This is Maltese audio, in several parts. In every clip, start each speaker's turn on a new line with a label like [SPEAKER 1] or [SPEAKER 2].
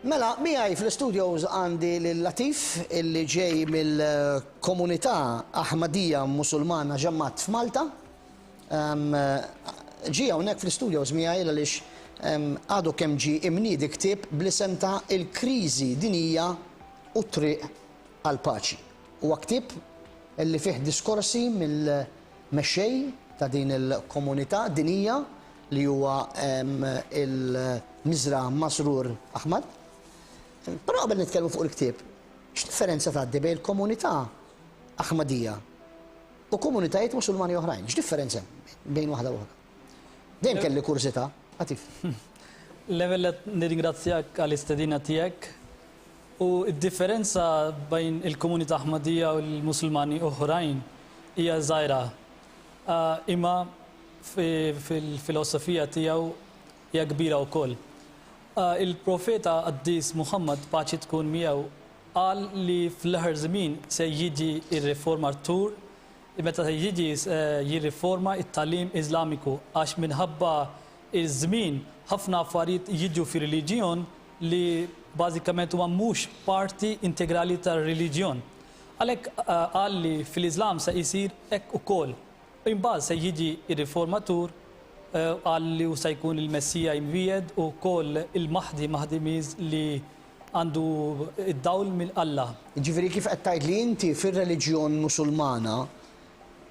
[SPEAKER 1] Mela, miħaj fl-studios għandi l-Latif illi ġej mill-komunità Ahmadija Musulmana ġemmat f'Malta. Ġi hawnhekk fl-studios miħaj għaliex għadu kemm ġi imnidi ktib bl-isem ta' il-kriżi dinija u triq għal paċi. Huwa ktieb li fih diskorsi mill-mexxej ta' din il-komunità dinjija li huwa l-Miżra Masroor Ahmad. Però qabel nitkellmu fuq il-ktieb, x'differenza tgħaddi bejn il-komunità Ahmadija u komunitajiet Musulmani oħrajn? X'differenza hemm bejn waħda u oħra? Dejjem kelli kurżità. Atif.
[SPEAKER 2] L-ewwel nett nirringrazzjak għall-istedina tiegħek U d-differenza bejn il-komunità Ahmadiyya u l-Musulmani oħrajn hija żgħira. Imma fil-filosofija tiegħu hija kbira wkoll. Il-Profeta qaddis Muħammad, paċi tkun miegħu, qal li fl-aħħar żmien se jiġi r-riformatur, meta se jiġi jirriforma t-tagħlim Iżlamiku, għax minħabba ż-żmien ħafna affarijiet jiġu fir-reliġjon li bażikament huwa mhux parti integrali tar-reliġjon. Għalhekk qal li fil-Iżlam se jsir hekk ukoll. Imbagħad se jiġi r-Riformatur u qal li hu se jkun il-Messija imwiegħed u wkoll il-Mahdi, Mahdi means li għandu d-dawl minn Alla. Jiġifieri kif qed tgħid
[SPEAKER 1] li inti fir-reliġjon Musulmana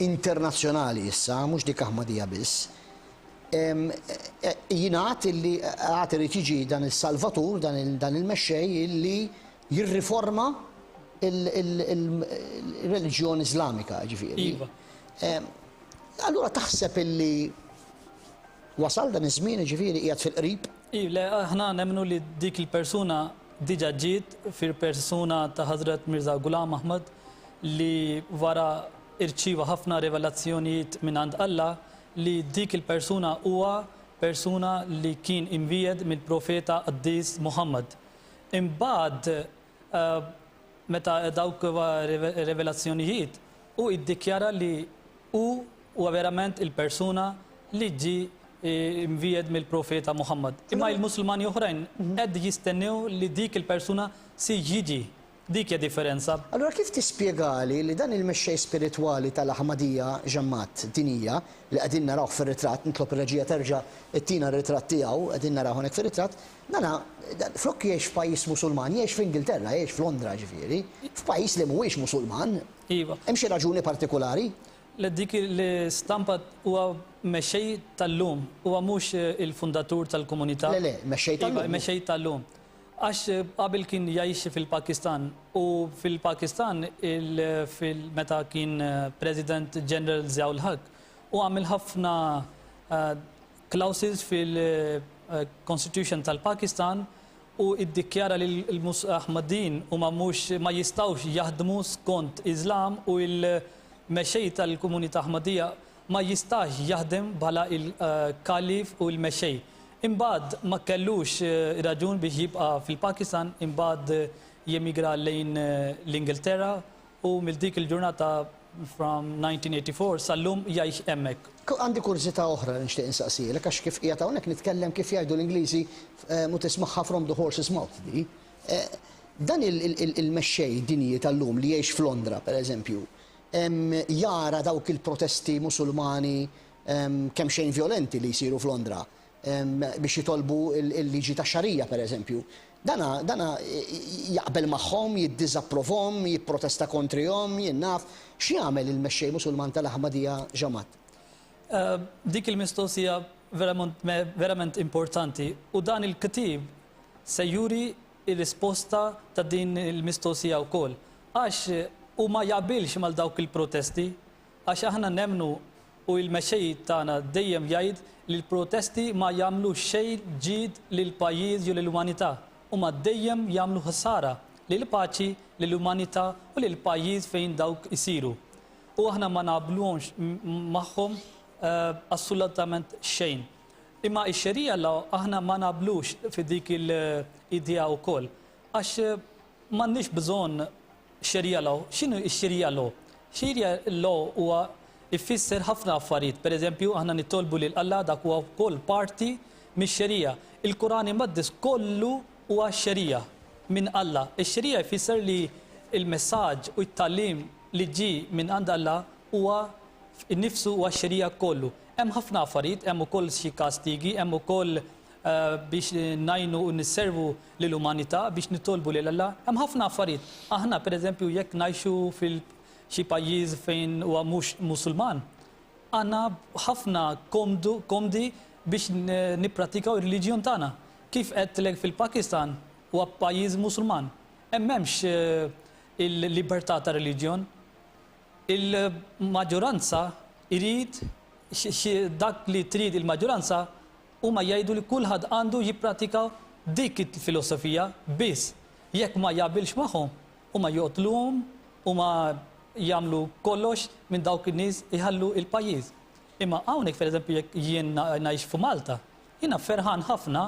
[SPEAKER 1] internazzjonali issa, mhux dik Ahmadija biss, Jingħad illi għad irid jiġi dan is-Salvatur, dan il-Mexxej illi jirriforma l-reliġjon Iżlamika, jiġifieri. Iva. Allura taħseb illi wasal dan iż-żmien, jiġifieri qiegħed fil-qrib? Iva, le, aħna
[SPEAKER 2] nemmnu li dik il-persuna diġà ġiet fil-persuna ta' Ħażrat Mirża Ghulam Ahmad li wara rċieva ħafna rivelazzjonijiet mingħand Alla li dik il-persuna huwa persuna li kien imwiegħed mill-Profeta Qaddis Muħammad. Imbagħad meta dawk revelazzjonijiet, hu iddikjara li hu huwa verament il-persuna li ġie imwiegħed mill-Profeta Muħammad. Imma il-Musulmani oħrajn qed jistennew li dik il-persuna se jiġi Dik hija differenza. Allura kif tispjegali
[SPEAKER 1] li dan il-mexxej spiritwali tal-Aħmadija, Ġammat, din hija, li qegħdin narawh fir-ritratt, nitlob ir-reġija terġa' ittina r-ritratt tiegħu, qegħdin narawh hawnhekk fir-ritratt, dana, flok jgħix f'pajjiż Musulman, jgħix f'Ingilterra, jgħix f'Londra, jiġifieri, f'pajjiż li mhuwiex Musulman? Iva. Hemm xi
[SPEAKER 2] raġuni
[SPEAKER 1] partikulari? Le, dik
[SPEAKER 2] l-istampa, huwa mexxej tal-lum, huwa mhux il-fundatur tal-komunità. Le, le, mexxej tal-lum.
[SPEAKER 1] Iva, mexxej tal-lum.
[SPEAKER 2] Għax qabel kien jgħix fil-Pakistan u fil-Pakistan meta kien President General Ziaul Haq hu għamel ħafna clauses fil-Constitution tal-Pakistan u iddikjara li l-Ahmadiyin huma mhux ma jistgħux jaħdmu skont Iżlam u l-mexxej tal-komunità Ahmadiyya ma jistax jaħdem bħala il-Khalif u l-Mexxej. Imbagħad ma kellux raġun biex jibqa' fil-Pakistan, imbagħad jemigra lejn l-Ingilterra u mill dik il-ġurnata from 1984 sal-lum jgħix hemmhekk. Għandi kurżità
[SPEAKER 1] oħra li nixtieq insaqsielek għax kif qiegħed hawnhekk nitkellem kif jgħidu l-Ingliżi u tismagħha from the horse's mouth di. Dan il-mexxej dinji tal-lum li jgħix f'Londra, pereżempju, jara dawk il-protesti Musulmani kemmxejn vjolenti li jsiru f'Londra biex jitolbu l-liġi tax-Xarija, pereżempju. Dana, dana jaqbel magħhom, jiddiżapprovhom, jipprotesta kontrihom, jien naf. X'jagħmel il-mexxej Musulman tal-Ahmadija Jamaat?
[SPEAKER 2] Dik il-mistoqsija verament verament importanti u dan il-ktieb se juri ir-risposta ta' din il-mistoqsija wkoll. Għax hu ma jaqbilx mal dawk il-protesti. Għax aħna nemmnu u il-mexxej tagħna dejjem jgħid li l-protesti ma jagħmlu xejn ġid lill-pajjiż jew lill-umanità. Huma dejjem jagħmlu ħsara lill-paċi, lill-umanità u lill-pajjiż fejn dawk isiru. U aħna ma naqblux magħhom assolutament xejn. Imma x-xerija Alla aħna ma naqblux fi dik il-idea wkoll. Għax m'għandniex bżonn xerija Alla. X'inhu x-xerija Alla? Xerija Alla huwa jfisser ħafna affarijiet. Per eżempju, aħna nitolbu lil Alla dak huwa wkoll parti mix-xerija. Il-Quran Imqaddes kollu huwa xerija minn Alla. Ix-xerija jfisser li l-messaġġ u t-tagħlim li ġie minn għand Alla huwa innifsu huwa x-xerija kollu. Hemm ħafna affarijiet, hemm ukoll xi kastigi, hemm ukoll biex ngħinu u nisservu lill-umanità, biex nitolbu lil Alla. Hemm ħafna affarijiet. Aħna pereżempju jekk ngħixu fil xi pajjiż fejn huwa mhux Musulman, għandna ħafna komdu, komdi biex nippratikaw ir-reliġjon tagħna. Kif għedtlek fil-Pakistan huwa pajjiż Musulman. Hemm m'hemmx il-libertà ta' reliġjon. Il-maġġoranza jrid xi dak li trid il-maġġoranza huma jgħidu li kulħadd għandu jipprattika dik il-filosofija biss jekk ma jaqbilx magħhom huma joqtluhom huma jagħmlu kollox minn dawk in-nies iħallu il-pajjiż imma hawnhekk pereżempju jekk jien ngħix f'Malta jiena ferħan ħafna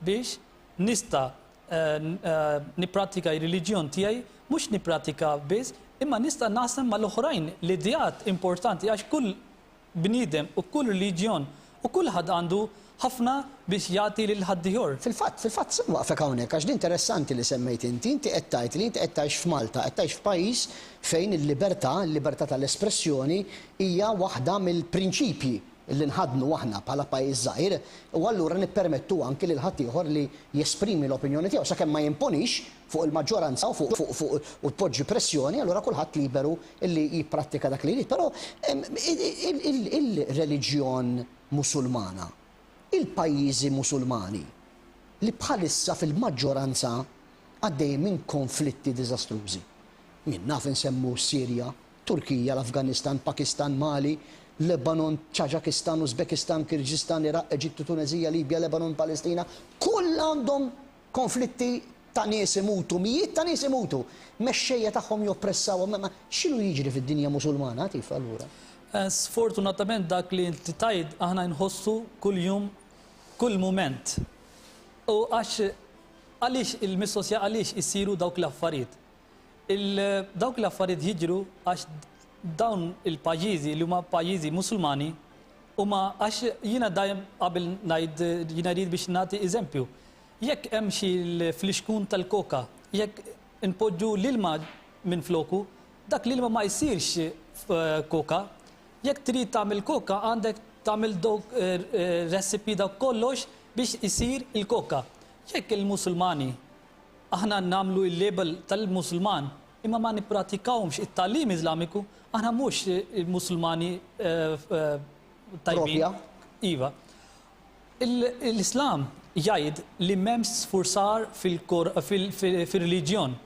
[SPEAKER 2] biex nista' nipprattika r-reliġjon tiegħi, mhux nipprattika biss, imma nista' naqsam mal-oħrajn l-ideat importanti għax kull bniedem u kull reliġjon u kulħadd għandu ħafna biex jagħti lil ħaddieħor. Fil-fatt, fil-fatt, se nwaqfek
[SPEAKER 1] hawnhekk għax din interessanti li semmejt inti, inti qed tgħid li inti qed tgħix f'Malta, qed tgħix f'pajjiż fejn il-libertà, il-libertà tal-espressjoni hija waħda mill-prinċipji. li nħaddnu aħna bħala pajjiż żgħir u allura nippermettu anki lil ħaddieħor li jesprimi l-opinjoni tiegħu sakemm ma jimponix fuq il-maġġoranza u fuq u tpoġġi pressjoni allura kulħadd liberu li jipprattika dak li jrid. Però il-reliġjon Musulmana, il-pajjiżi Musulmani li bħalissa fil-maġġoranza għaddejjin minn konflitti diżastrużi. Jien naf insemmu s-Sirja, Turkija, l-Afganistan, Pakistan, Mali, Lebanon, Ċaġakistan, Uzbekistan, Kirġistan, Iraq, Eġittu, Tuneżija, Libja, Lebanon, Palestina, kull għandhom konflitti ta' nies imutu, mijiet ta' nies imutu, mexxejja tagħhom joppressawhom, imma x'inhu jiġri fid-dinja Musulmana, Atif, allura? Sfortunatament
[SPEAKER 2] dak li inti tgħid aħna nħossu kuljum, kull mument. U għax għaliex il-mistoqsija għaliex isiru dawk l-affarijiet? Dawk l-affarijiet jiġru għax dawn il-pajjiżi li huma pajjiżi Musulmani huma għax jiena dejjem qabel ngħid jiena rrid biex nagħti eżempju. Jekk hemm xi flixkun tal-koka, jekk inpoġġu l-ilma minfloku, dak l-ilma ma jsirx koka. Jekk trid tagħmel koka għandek tagħmel dawk recipe dawk kollox biex isir il-koka. Jekk il-Musulmani Aħna nagħmlu il-label tal-Musulman imma ma nippratikawhomx it-tagħlim Iżlamiku, aħna mhux Musulmani tajbin. Iva. L-Islam jgħid li m'hemmx sfurzar fir-reliġjon,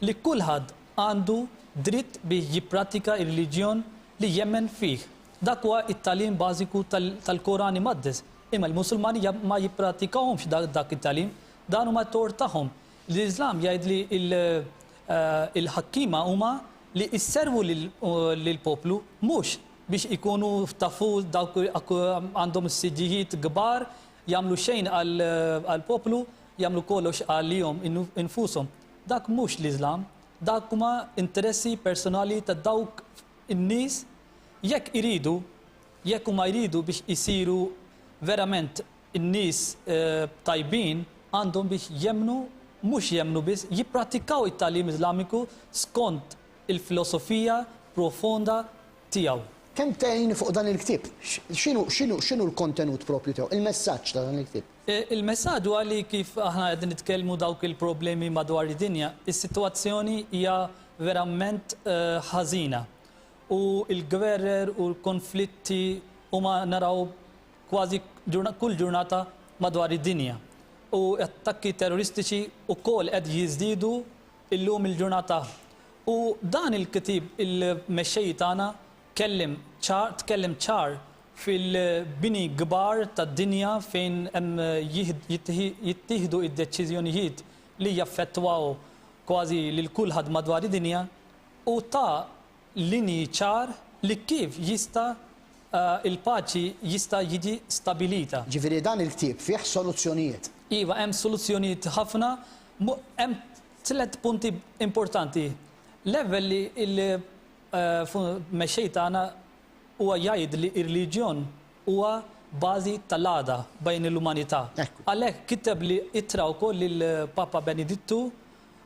[SPEAKER 2] li kulħadd għandu dritt biex jippratika r-reliġjon li jemmen fih. Dak huwa t-tagħlim bażiku tal-Koran Imqaddes, imma l-Musulmani ma jippratikawhomx dak it-tagħlim, Dan huma t-tort tagħhom. L-Iżlam jgħid li l-ħakkiema huma li jservu lill-poplu mhux biex ikunu tafu dawk għandhom is-siġġijiet kbar, jagħmlu xejn għall-poplu, jagħmlu kollox għalihom infushom. Dak mhux l-Iżlam. Dak huma interessi personali ta' dawk in-nies jekk iridu, jekk huma jridu biex isiru verament In-nies tajbin għandhom biex jemmnu, mhux jemmnu biss, jipprattikaw it-tagħlim Iżlamiku skont il-filosofija profonda tiegħu. Kemm tgħin
[SPEAKER 1] fuq dan il-ktieb? X'inhu l-kontenut proprju tiegħu, il-messaġġ ta' dan il-ktieb? Il-messaġġ huwa
[SPEAKER 2] li kif aħna qegħdin nitkellmu dawk il-problemi madwar id-dinja, is-sitwazzjoni hija verament ħażina u l-gwerer u l-konflitti huma naraw kważi kull ġurnata madwar id-dinja u attakki terroristiċi wkoll qed jiżdiedu llum il-ġurnata. U dan il-kitib il-mexxej tagħna kellim ċar tkellem ċar fil-bini kbar tad-dinja fejn hemm jittieħdu d-deċiżjonijiet li jaffettwaw kważi lil kulħadd madwar id-dinja u ta linji ċar li kif jista' il-paċi jista' jiġi stabilita. Ġifieri dan il-ktieb
[SPEAKER 1] fih soluzzjonijiet. Iva hemm
[SPEAKER 2] soluzzjonijiet ħafna. Hemm tliet punti importanti. L-ewwel li l-Mexxej tagħna huwa jgħid li r-reliġjon huwa bażi tal-għada bejn l-umanità. Għalhekk kiteb li ittra wkoll lill-Papa Benedittu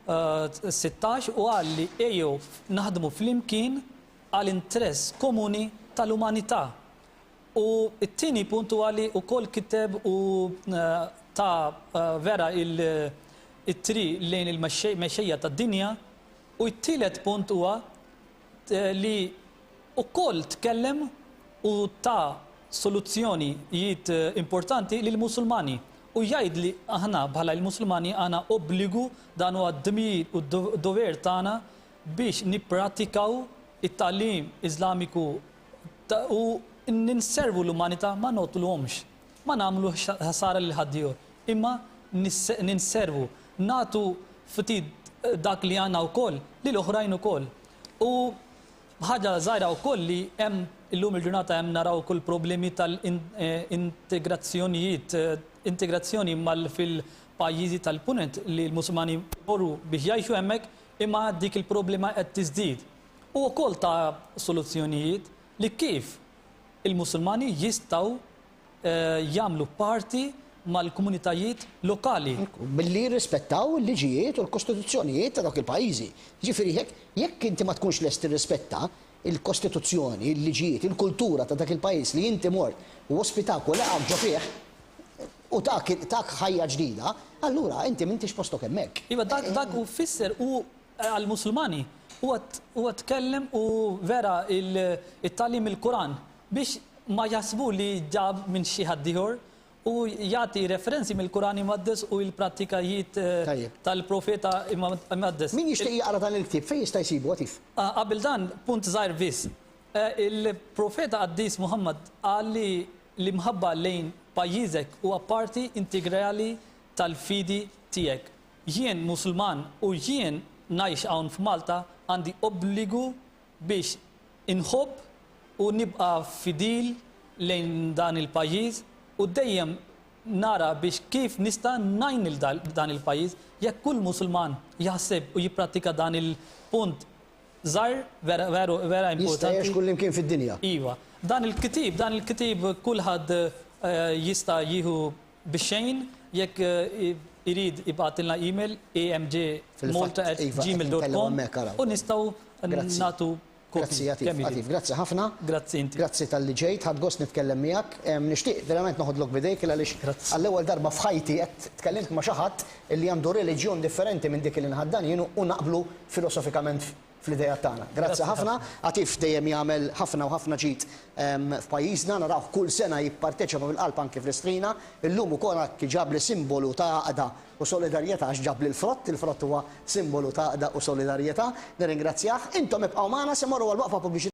[SPEAKER 2] 16 u qal li ejjew naħdmu flimkien għal interess komuni tal-umanità. U t-tieni punt huwa li wkoll kiteb u ta vera it-triq lejn il-mexxejja tad-dinja u t-tielet punt huwa li wkoll tkellem u ta soluzzjoni jiet importanti lil Musulmani u jgħid li aħna bħala il-Musulmani għana obbligu dan huwa d-dmir u d-dover tagħna biex nippratikaw it-tagħlim Islamiku u ninservu l-umanita ma noqtluhomx. Ma nagħmlu ħsara lil ħaddiehor, imma ninservu, nagħtu ftit dak li għandna wkoll lil oħrajn ukoll. U ħaġa żgħira wkoll li hemm illum il-ġurnata hemm naraw ukoll problemi tal-integrazzjonijiet, integrazzjoni mal fil-pajjiżi tal-Punent li l-Musulmani jmorru biex jgħixu hemmhekk imma dik il-problema qed tiżdied. U wkoll ta soluzzjonijiet li kif il-Musulmani jistgħu jagħmlu parti mal-komunitajiet lokali. Billi
[SPEAKER 1] jirrispettaw il-liġijiet u l-kostituzzjonijiet ta' dawk il-pajjiżi. Jiġifieri jekk jekk inti ma tkunx lest tirrispetta l-kostituzzjoni, il-liġijiet, il-kultura ta' dak il-pajjiż li inti mort u ospitak u laqgħek ġo fih u tak tak ħajja ġdida, allura inti m'intix postok hemmhekk. Iva dak dak hu
[SPEAKER 2] fisser hu Għall-Musulmani huwa tkellem u vera it-tagħlim il-Quran biex ma jaħsbu li ġab minn xi ħaddieħor u jagħti referenzi mill-Quran Imqaddes u l-prattikajiet tal-Profeta Imqaddes. Min jixtieq jaqra dan
[SPEAKER 1] il-ktieb fejn jista' jsibu Għatif? Qabel dan,
[SPEAKER 2] punt żgħir biss. Il-Profeta Qaddis Muħammad qal li l-imħabba lejn pajjiżek huwa parti integrali tal-fidi tiegħek. Jien Musulman u jien ngħix hawn f'Malta għandi obbligu biex inħobb u nibqa' fidil lejn dan il-pajjiż u dejjem nara biex kif nista' ngħin lil dan il-pajjiż. Jekk kull Musulman jaħseb u jipprattika dan il-punt żgħir vera veru vera importanti. Jista' jgħix kullimkien
[SPEAKER 1] fid-dinja. Iva. Dan
[SPEAKER 2] il-ktieb dan il-ktieb kulħadd jista' jieħu Bixxejn, jekk irid ibgħatilna email amjmalta@gmail.com u nistgħu nagħtu kopji kemm irid.
[SPEAKER 1] Grazzi, grazzi ħafna. Grazzi inti. Grazzi
[SPEAKER 2] talli ġejt, ħadt
[SPEAKER 1] gost nitkellem miegħek. Nixtieq verament noħodlok b'idejk il għaliex għall-ewwel darba f'ħajti qed tkellimt ma' xi ħadd li għandu reliġjon differenti minn dik li nħaddan jien u naqblu filosofikament fl-ideat tagħna. Grazzi ħafna. Għatif dejjem jagħmel ħafna u ħafna ġid f'pajjiżna, narawh kull sena jipparteċipa mill-qalb anki fl-Istrina. Illum ukoll hekk ġabli simbolu ta' għaqda u solidarjetà għax ġabli l-frott, il-frott huwa simbolu ta' għaqda u solidarjetà. Nirringrazzjah. Intom ibqgħu magħna se mmorru għal waqfa pubbliċitarja.